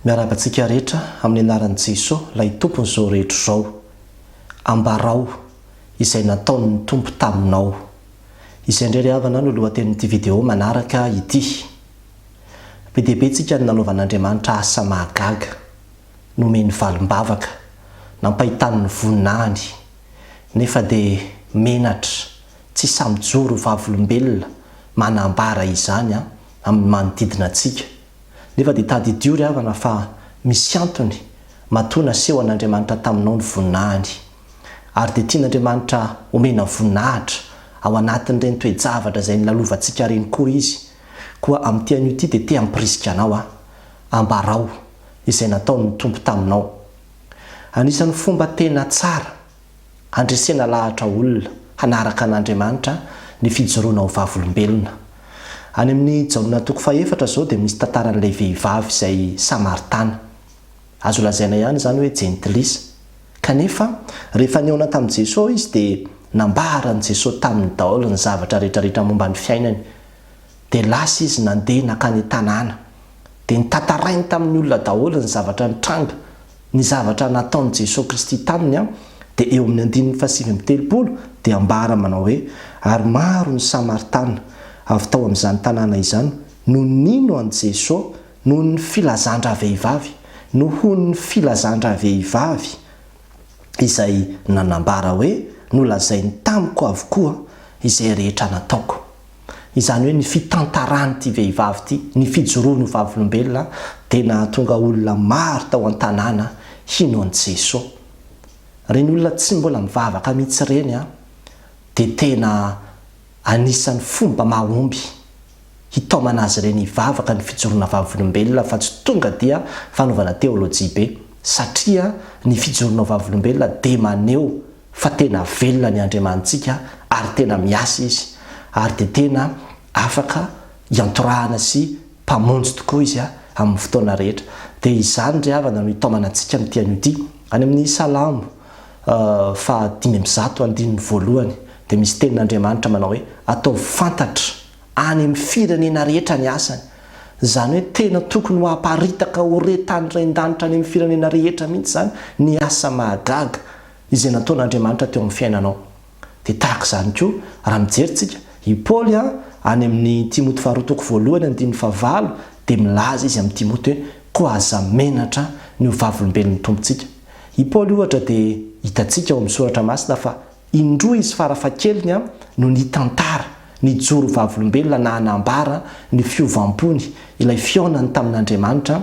Miarahaba antsika rehetra amin'ny anaran'i Jesoa ilay Tompon'izao rehetra izao. Ambarao izay nataon'ny Tompo taminao. Izay indray ry havana no lohatenin'ity video manaraka ity. Be dia be tsika ny nanaovan'Andriamanitra asa mahagaga, nomeny valim-bavaka, nampahitany ny voninahiny, nefa dia menatra, tsy hisamijoro ho vavolombelona manambara izany amin'ny manodidina antsika. nefa dia tadidio ry havana fa misy antony matoa naseho an'Andriamanitra taminao ny voninahiny. Ary dia tian'Andriamanitra homena voninahitra ao anatin'ireny toe-javatra izay nilalovantsika ireny koa Izy. Koa amin'ity anio ity dia te hampirisika anao aho, ambarao izay nataon'ny Tompo taminao. Anisan'ny fomba tena tsara Handresena lahatra olona hanaraka an'Andriamanitra ny fijoroana ho vavolombelona. Any amin'ny Jaona toko fahefatra izao dia misy tantaran'ilay vehivavy izay Samaritana. Azo lazaina ihany izany hoe jentilisa. Kanefa, rehefa nihaona tamin'i Jesoa izy dia nambaran'i Jesoa taminy daholo ny zavatra rehetrarehetra momba ny fiainany. Dia lasa izy nandeha nankany an-tanàna. Dia notantarainy tamin'ny olona daholo ny zavatra nitranga. Ny zavatra nataon'i Jesoa Kristy taminy, dia eo amin'ny andininy fahasivy amby telopolo, dia ambara manao hoe, Ary maro ny Samaritana, avy tao amin'izany tanàna izany, no nino an'i Jesoa noho ny filazan-dravehivavy, nohon'ny filazan-dravehivavy izay nanambara hoe, Nolazainy tamiko avokoa izay rehetra nataoko. izany hoe ny fitantaran'ity vehivavy ity ny fijoroany ho vavolombelona dia nahatonga olona maro tao an-tanàna hino an'i Jesoa. Ireny olona tsy mbola mivavaka mihitsy ireny dia tena anisan'ny fomba mahomby hitaomana azy ireny hivavaka ny fijoroana vavolombelona fa tsy tonga dia fanaovana teolojia be satria ny fijoroana ho vavolombelona dia maneho fa tena velona ny Andriamanitsika ary tena miasa Izy ary dia tena afaka iantorahana sy Mpamonjy tokoa Izy amin'ny fotoana rehetra. Dia izany ry havana no hitaomana antsika amin'ity anio ity. Any amin'ny Salamo faha dimy amby zato andininy voalohany dia misy tenin'Andriamanitra manao hoe, Ataovy fantatra any amin'ny firenena rehetra ny asany. Izany hoe tena tokony ho aparitaka ho re tany ren-danitra any amin'ny firenena rehetra mihitsy izany ny asa mahagaga Izay nataon'Andriamanitra teo amin'ny fiainanao. Dia tahaka izany koa, raha mijery tsika, i Paoly an, any amin'ny Timoty faharoa toko voalohany andininy fahavalo, dia milaza izy amin'i Timoty hoe, koa aza menatra ny ho vavolombelon'ny Tompontsika. I Paoly ohatra dia hitantsika ao amin'ny soratra masina fa indroa izy fara fahakeliny an, no nitantara, nijoro ho vavolombelona na nanambara ny fiovam-pony, ilay fihaonany tamin'Andriamanitra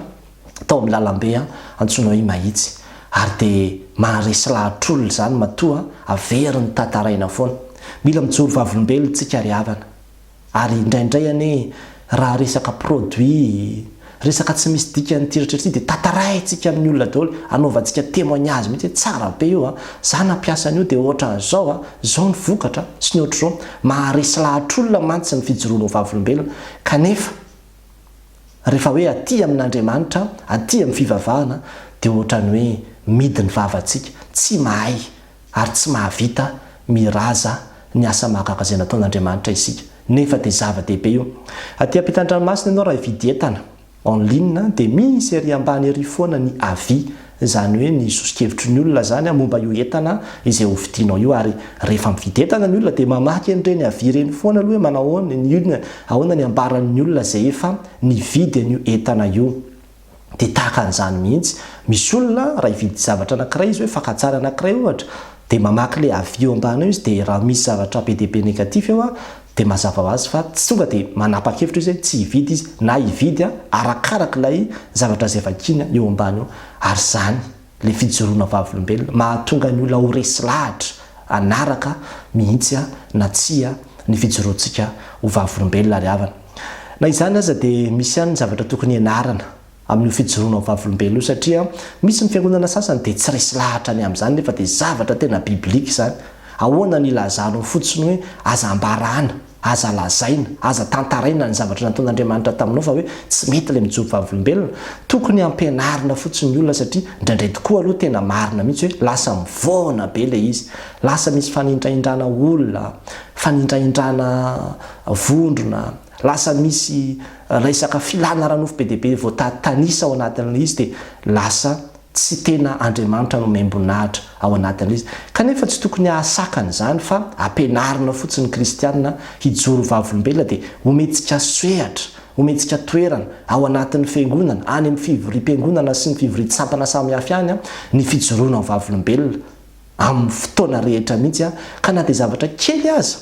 tao amin'ny lalambe antsoina hoe Mahitsy ary dia maharesy lahatr'olona izany matoa averiny ny tantaraina foana. Mila mijoro vavolombelona isika ry havana ary indraindray anie raha resaka produit, resaka tsy misy dikany ity rehetra ity dia tantaraintsika amin'ny olona daholo, anaovantsika témoignage mihitsy hoe tsara be io, za nampiasa an'io dia ohatran'izao, izao ny vokatra sy ny ohatr'izao. Maharesy lahatr'olona mantsy ny fijoroana ho vavolombelona kanefa. Rehefa hoe aty amin'Andriamanitra, aty amin'ny fivavahana, dia ohatran'ny hoe midy ny vavantsika, tsy mahay ary tsy mahavita miraza ny asa mahagaga izay nataon'Andriamanitra isika. Nefa dia zava-dehibe io. Aty am-pitan-dranomasina ianao raha hividy entana en ligne dia misy ery ambany ery foana ny avis izany hoe ny soso-kevitry ny olona izany momba io entana izay ho vidinao io ary rehefa mividy entana ny olona dia mamaky an'ireny avis ireny foana aloha hoe manao ahoana ny olona, ahoana ny ambaran'ny olona izay efa nividy an'io entana io. Dia tahaka an'izany mihitsy, misy olona raha hividy zavatra anankiray izy hoe fakantsary anankiray ohatra dia mamaky ilay avis eo ambany eo izy dia raha misy zavatra be dia be négatif eo Dia mazava ho azy fa tsy tonga dia manapa-kevitra izy hoe tsy hividy izy na hividy arakaraka ilay zavatra izay vakiana eo ambany eo. Ary izany ilay fijoroana vavolombelona mahatonga ny olona ho resy lahatra hanaraka mihitsy na tsia ny fijoroantsika ho vavolombelona ry havana. Na izany aza dia misy ihany ny zavatra tokony hianarana amin'io fijoroana ho vavolombelona io satria misy ny fiangonana sasany dia tsy resy lahatra ny amin'izany nefa dia zavatra tena biblique izany. Ahoana ny ilazanao fotsiny hoe aza ambarana, aza lazaina, aza tantaraina ny zavatra nataon'Andriamanitra taminao fa hoe tsy mety ilay mijoro vavolombelona? Tokony ampianarina fotsiny ny olona satria indraindray tokoa aloha tena marina mihitsy hoe lasa mivoana be ilay izy, lasa misy fanindrahindrana olona, fanindrahindrana vondrona, Lasa misy resaka filana ara-nofo be dia be vao tanisa ao anatin'ilay izy dia lasa tsy tena Andriamanitra nomem-boninahitra ao anatin'ilay izy. Kanefa tsy tokony hahasakana izany fa ampianarina fotsiny ny kristiana hijoro ho vavolombelona dia homentsika sehatra, homentsika toerana ao anatin'ny fiangonana, any amin'ny fivoriam-piangonana sy ny fivorian-tsampana samihafa ihany ny fijoroana ho vavolombelona amin'ny fotoana rehetra mihitsy ka na dia zavatra kely aza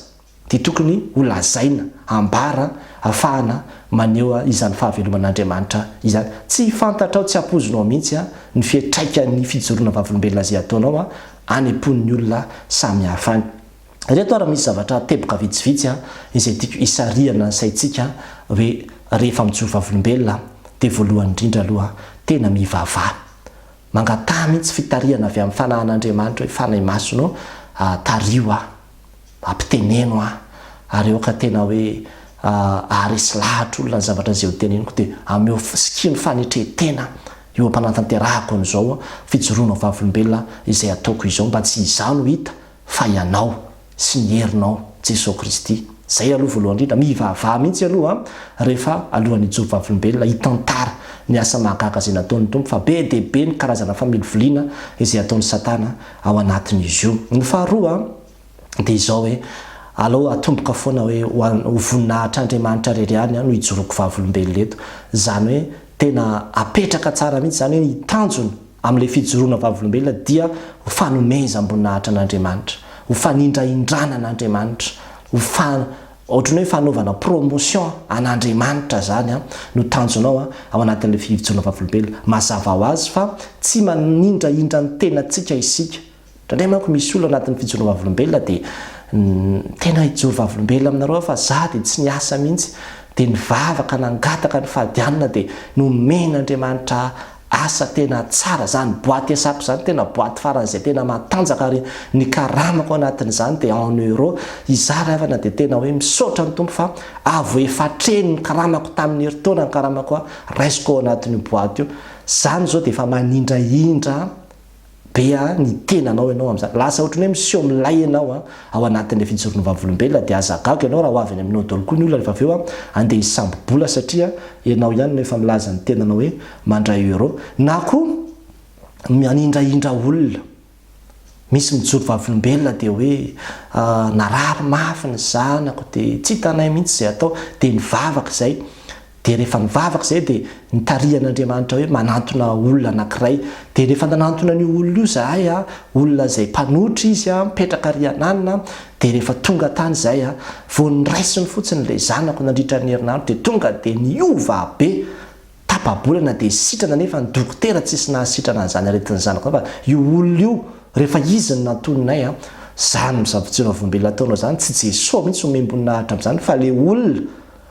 dia tokony ho lazaina, ambara afahana maneho izany fahaveloman'Andriamanitra izany. Tsy fantatrao, tsy ampoizinao mihitsy ny fiantraikan'ny fijoroana vavolombelona izay ataonao any am-pon'ny olona samihafa any. Ireto ary misy zavatra teboka vitsivitsy izay tiako hisarihana ny saintsika hoe rehefa mijoro vavolombelona dia voalohany indrindra aloha tena mivavaha. Mangataha mihitsy fitarihana avy amin'ny Fanahin'Andriamanitra hoe Fanahy Masina ô, tariho aho, ampiteneno aho, ary aoka tena hoe haharesy lahatra olona ny zavatra izay hoteneniko, dia ameo sikino fanetren-tena eo am-panatanterahako an'izao fijoroana ho vavolombelona izay ataoko izao, mba tsy izaho no hita fa ianao sy ny herinao Jesosy Kristy. Zay aloha voalohany indrindra, mivavaha mihitsy aloha an, rehefa alohan'ny hijoro vavolombelona hitantara ny asa mahagaga izay nataon'ny Tompo fa be dia be ny karazana familiviliana izay ataon'i Satana ao anatin'izy io. Ny faharoa dia izao hoe, alao atomboka foana hoe ho voninahitr' Andriamanitra rery ihany no hijoroako vavolombelona eto, izany hoe tena apetraka tsara mihitsy izany hoe ny tanjona Amin'ilay fijoroana vavolombelona dia ho fanomezam-boninahitra an'Andriamanitra, ho fanindrahindrana an'Andriamanitra, ho fa, ohatran'ny hoe fanaovana promotion an'Andriamanitra izany an, no tanjonao an, ao anatin'ilay fijoroana vavolombelona. Mazava ho azy fa tsy manindrahindra ny tenantsika isika. Indraindray manko misy olona anatin'ny fijoroam-bavolombelona dia tena hijoro vavolombelona aminareo aho fa za dia tsy niasa mihitsy dia nivavaka nangataka ny fahadianana dia nomen'Andriamanitra asa tena tsara zany boite Esap zany tena boite faran'izay tena matanjaka ary ny karamako anatin'izany dia en euro izara havana dia tena hoe misaotra ny Tompo fa avo efatreno ny karamako tamin'ny herintaona ny karamako raisiko ao anatin'io boite io zany izao dia efa manindrahindra be a ny tenanao ianao amin'izany, lasa ohatran'ny hoe miseho milay ianao a, ao anatin'ilay fijoroana vavolombelona, dia aza gaga ianao raha ho avy any aminao daholo koa ny olona rehefa avy eo a, andeha hisambo-bola satria ianao ihany no efa milaza ny tenanao hoe mandray euro, na koa manindrahindra olona, misy mijoro vavolombelona dia hoe narary mafy ny zanako dia tsy hitanay mihitsy izay atao, dia nivavaka izay, Dia rehefa nivavaka izahay dia nitarihan'Andriamanitra hoe manantona olona anankiray. Dia rehefa nanantona an'io olona io izahay, olona izay mpanotra izy, mipetraka ary an'alina, dia rehefa tonga tany izahay, vao noraisiny fotsiny ilay zanako nandritra ny herinandro dia tonga dia niova be. Tapa-bolana dia sitrana nefa ny dokotera tsisy nahasitrana an'izany aretin'ny zanako izany fa io olona io rehefa izy no nantoninay, izany misabotsiravombe nataonao izany tsy Jesoa mihitsy omem-boninahitra amin'izany fa ilay olona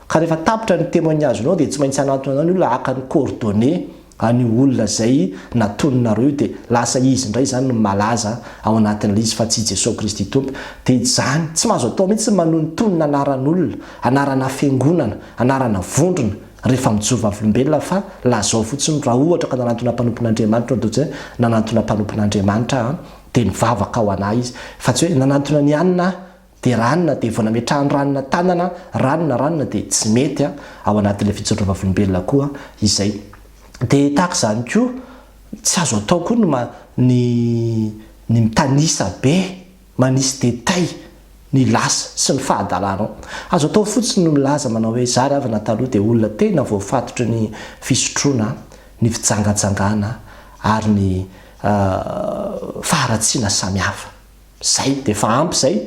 Ka rehefa tapitra ny temoignage-nao dia tsy maintsy hanantona anao ny olona haka ny coordonnées an'io olona izay natoninareo io dia lasa izy indray izany no malaza ao anatin'ilay izy fa tsy i Jesoa Kristy Tompo. Dia izany. Tsy mahazo atao mihitsy ny manonontonona anaran'olona, anarana fiangonana, anarana vondrona rehefa mijoro vavolombelona fa lazao fotsiny raha ohatra ka nanantona mpanompon'Andriamanitra ianao dia hoe nanantona mpanompon'Andriamanitra aho dia nivavaka ho anà izy fa tsy hoe nanantona an'i Anna aho dia ranona dia vao nametrahany ranona tanana ranona ranona dia tsy mety a ao anatin'ilay fijoroana vavolombelona koa izay dia tahaka izany koa tsy azo atao koa ny ma ny ny mitanisa be manisy detay ny lasa sy ny fahadalanao azo atao fotsiny ny milaza manao hoe zary avy na taloha dia olona tena voafatotry ny fisotroana ny fijangajangana ary ny faharatsiana samihafa Zay, dia efa ampy zay.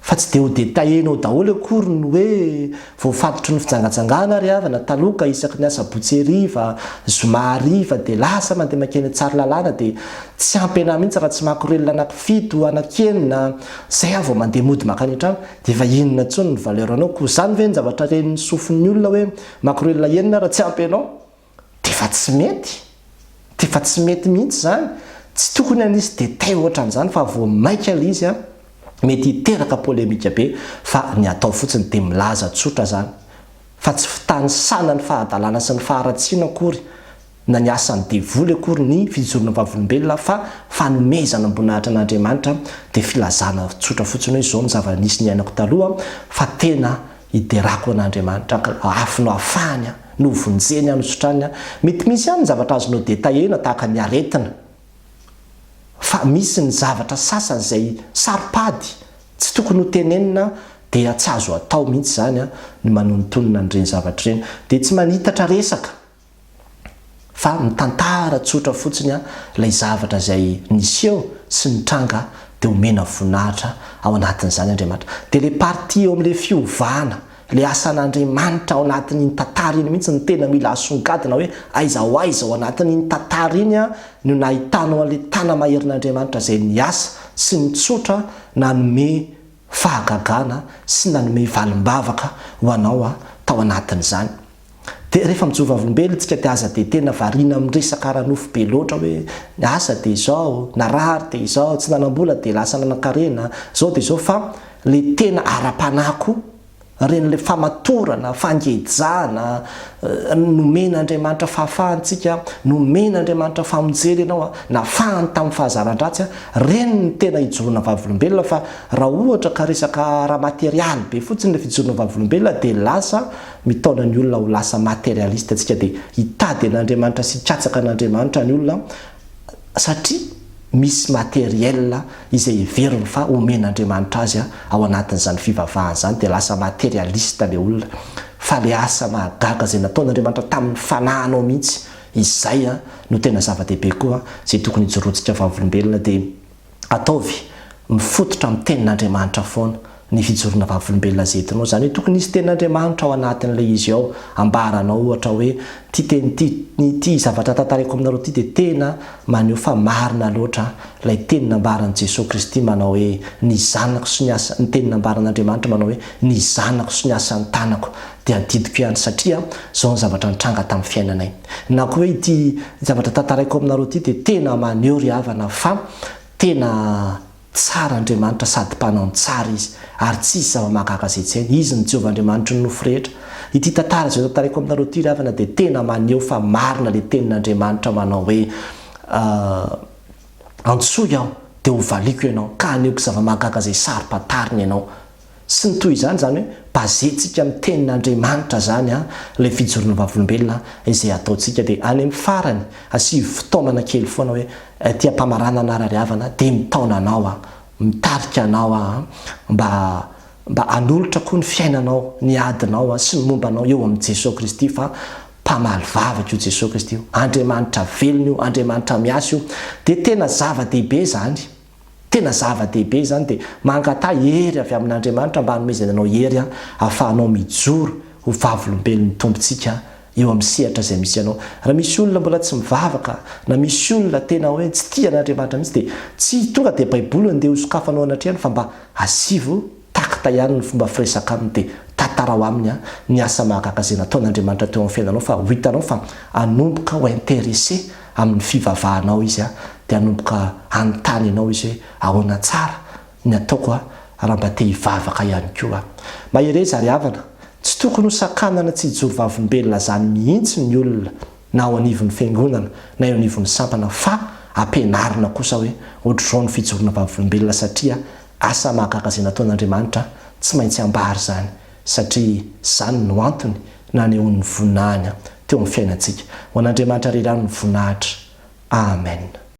Fa tsy dia ho detailler-nao daholo akory ny hoe voafatotry ny fijangajangana ry havana taloha ka isaky ny asabotsy hariva, zoma hariva dia lasa mandeha mankeny Tsaralalàna dia tsy ampy anah mihitsy raha tsy makorelina anankifito, anankenina, zay aho vao mandeha mody mankany an-trano dia efa inona intsony ny valeur-nao, koa zany ve ny zavatra ren'ny sofin'ny olona hoe makorelina enina raha tsy ampy anao? Tefa tsy mety, tefa tsy mety mihitsy zany, tsy tokony hanisy détails ohatran'izany fa vao maika le izy an, mety hiteraka polémique be fa ny atao fotsiny de milaza tsotra zany fa tsy fitanisana ny fahadalana sy ny faharatsiana akory na ny asan'ny devoly akory ny fijoroana vavolombelona fa fanomezana am-boninahitra an'Andriamanitra de filazana tsotra fotsiny hoe zao ny zava-nisy niainako taloha fa tena Hiderako ho an'Andriamanitra aho, ka hoafino afahany aho, novonjeny aho, nosotrany aho. Mety misy ihany ny zavatra azonao detailler-na tahaka ny aretina. Fa misy ny zavatra sasany izay saro-pady, tsy tokony ho tenenina, dia tsy azo atao mihitsy izany ny manonontonona an'ireny zavatra ireny. Dia tsy manitatra resaka fa mitantara tsotra fotsiny ilay zavatra izay niseho sy nitranga dia omena voninahitra ao anatin'izany Andriamanitra. Dia ilay partie eo amin'ilay fiovana, ilay asan'Andriamanitra ao anatin'iny tantara iny mihitsy no tena mila asongadina hoe aiza ho aiza ao anatin'iny tantara iny no nahitanao an'ilay tana-maherin'Andriamanitra izay niasa sy nitsotra nanome fahagagana sy nanome valim-bavaka ho anao tao anatin'izany Dia rehefa mijoro vavolombelona tsika dia aza dia tena variana amin'ny resaka ara-nofo be loatra hoe ny asa dia izao, narary dia izao, tsy nanam-bola dia lasa nanan-karena, izao dia izao fa le tena ara-panahy koa, ren'ilay famatorana, fangejana, nomena Andriamanitra fahafahana tsika, nomena Andriamanitra famonjena ianao, nafahany tamin'ny fahazaran-dratsy, reny no tena ijoroana vavolombelona fa raha ohatra ka resaka ara-materialy be fotsiny le fijoroana vavolombelona dia lasa Mitaona ny olona ho lasa materialiste antsika dia hitady an'Andriamanitra sy hikatsaka an'Andriamanitra ny olona satria misy materiel izay heveriny fa omen'Andriamanitra azy ao anatin'izany fivavahany izany dia lasa materialiste ilay olona fa ilay asa mahagaga izay nataon'Andriamanitra tamin'ny fanahinao mihitsy izay no tena zava-dehibe koa izay tokony hijoroantsika vavolombelona dia ataovy mifototra amin'ny tenin'Andriamanitra foana ny fijoroana vavolombelona izay entinao. Izany hoe tokony hisy tenin'Andriamanitra ao anatin'ilay izy ao ambaranao ohatra hoe ity teny ity, ity zavatra tantaraiko aminareo ity dia tena maneho fa marina loatra ilay teny nambaran'i Jesoa Kristy manao hoe ny zanako sy ny asa, ny teny nambaran'Andriamanitra manao hoe ny zanako sy ny asan'ny tanako dia adidiko ihany satria izao ny zavatra nitranga tamin'ny fiainanay. Na koa hoe ity zavatra tantaraiko aminareo ity dia tena maneho ry havana fa tena tsara Andriamanitra sady mpanao ny tsara Izy ary tsisy zava-mahagaga izay tsy hainy. Izy no Jehovah Andriamanitry ny nofo rehetra. Ity tantara izay tantaraiko aminareo ity ry havana dia tena maneho fa marina ilay tenin'Andriamanitra manao hoe Antsoy aho dia hovaliako ianao ka hanehoako zava-mahagaga izay saro-pantarina ianao. sy ny toy izany, izany hoe basentsika amin'ny tenin'Andriamanitra izany ilay fijoroana vavolombelona izay ataontsika, dia any amin'ny farany asivo fitaomana kely foana hoe aty am-pamaranana hanarariavana dia mitaona anao aho, mitarika anao aho mba mba hanolotra koa ny fiainanao, ny adinao sy ny momba anao eo amin'i Jesoa Kristy fa mpamaly vavaka io Jesoa Kristy io, Andriamanitra velona io, Andriamanitra miasa io, dia tena zava-dehibe izany. Tena zava-dehibe izany dia mangataha hery avy amin'Andriamanitra mba hanomezany anao hery hahafahanao mijoro ho vavolombelon'ny Tompontsika eo amin'ny sehatra izay misy anao. Raha misy olona mbola tsy mivavaka na misy olona tena hoe tsy tia an'Andriamanitra mihitsy dia tsy tonga dia Baiboly no andeha hosokafanao anatrehany fa mba asivo Takta ihany ny fomba firesaka aminy dia tantarao aminy an ny asa mahagaga izay nataon'Andriamanitra teo amin'ny fiainanao fa ho hitanao fa hanomboka ho interesse amin'ny fivavahanao izy an dia hanomboka hanontany anao izy hoe ahoana tsara ny ataoko an raha mba te hivavaka ihany koa an. Mahereza ry havana, tsy tokony ho sakanana tsy hijoro vavolombelona zany mihitsy ny olona na ao anivon'ny fiangonana na eo anivon'ny sampana fa ampianarina kosa hoe ohatr'izao ny fijoroana vavolombelona satria Asa mahagaga izay nataon'Andriamanitra tsy maintsy ambara izany, satria izany no antony nanehoan'ny voninahiny teo amin'ny fiainantsika. Ho an'Andriamanitra irery ihany ny voninahitra. Amen.